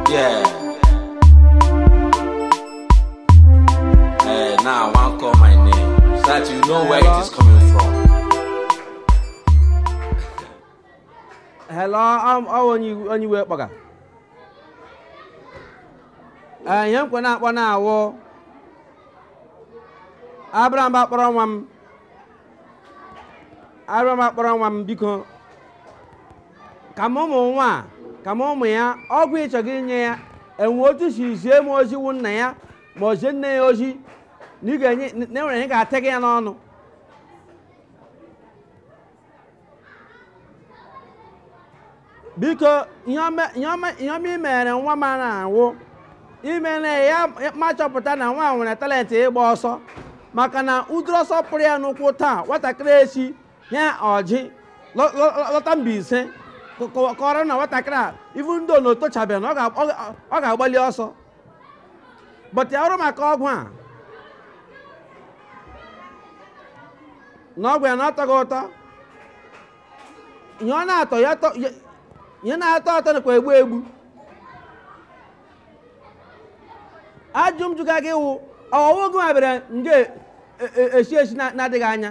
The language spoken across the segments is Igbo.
Yeah. Hey, now I want call my name so that you know where it is coming from. Hello, I'm oh, on you on you work bugger. Eh, yan ko na akpọ na awọ. Abraham ba kpọrọ nwa m. Abraham ba kpọrọ nwa m biko. ka m ụmụ nwa a, ka m ụmụ ya ọgwụ ị chọga inye ya e nwee otu i si zie m ozi wụ nna ya ma ọ zie nne ya ozi na ị ga-enye na e nwere ihe ga-ata gị ya n'ọnụ biko ihe ọma- ihe ọma ihe ọma i mere nwa m a na-awụ i mere ya m achọpụta na nwa a nwere talent ịgba ọsọ maka na ụdịrị ọsọ pụrụ ya n'ụkwụ taa nwatakịrị a sị ihe o ji lọta Mbaise kọrọ na nwatakịrị a even though na o tochabeghị na ọ ga-agbalị ọsọ but ya ọrụ maka ọgwụ a na ọgwụ ya na ọ tọga ụtọ ihe ọ na-atọ ihe na-atọ ụtọ nakwa egbu egbu ajụ m jụga gị wụ ọ wụ gị ma bịara nge isi isi na-adịghị anya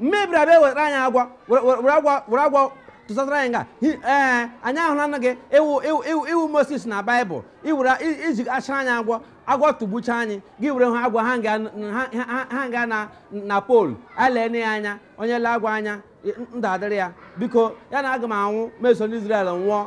mebiri bịa wetara anyị agwọ were- were were agwọ were agwọ tụsasara anyị nga Hi- ee anyị ahụla na gị ị wụ ị wụ- ị wụ ị wụ Moses na baịbụl iwere i- iji achara anyị agwọ agwọ tụgbucha anyị gị were ha agwọ hang ya ha- ha- hang ya na na pole alee na ya anya onye lee agwọ anya ndụ adịrị ya biko ya na aga m anwụ meso n'Izrel nwụọ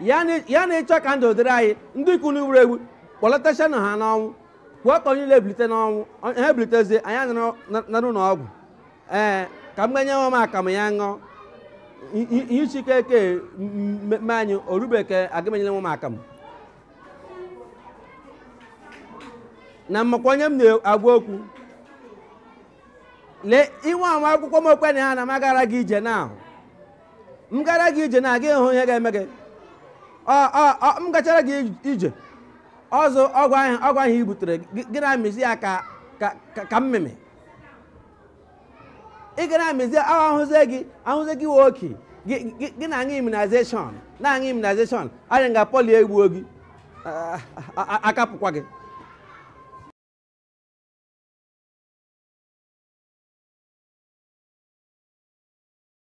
ya na- ya na ị chọ ka ndụ dịrị anyị ndị ke nwụrụ anwụ kpọlitechanụ ha n'ọnwụ kwuo ka onye niile bilite n'ọnwụ ọ- ha ebilitezie anyị anọrọ na- na-aṅụ ọgwụ ee ka m ga nye nwa m akamụ ya ṅụọ I- i- ihe chike eke mmemme anyị orubeke aga m enyere nwa m akamụ na m makwa onye m na-agwa okwu lee inwe anwa akwụkwọ m okwe na ya na m agara gị ije na ahụ m gara gị ije na ị ga-ahụ ihe ga-eme gị Ọ- ọ- ọ- m gachara gị ij- ije ọzọ ọgwụ ahụ ọgwụ ahụ i butere gị gị na-amịzi ya ka ka- ka- ka mmịmị ị ga na-amịzi ahụ ahụzie gị ahụzie gị oke gị gị- gị na-aṅụ immunization na-aṅụ immunization anyị nga polio egbuo gị a- a- a- akapụkwa gị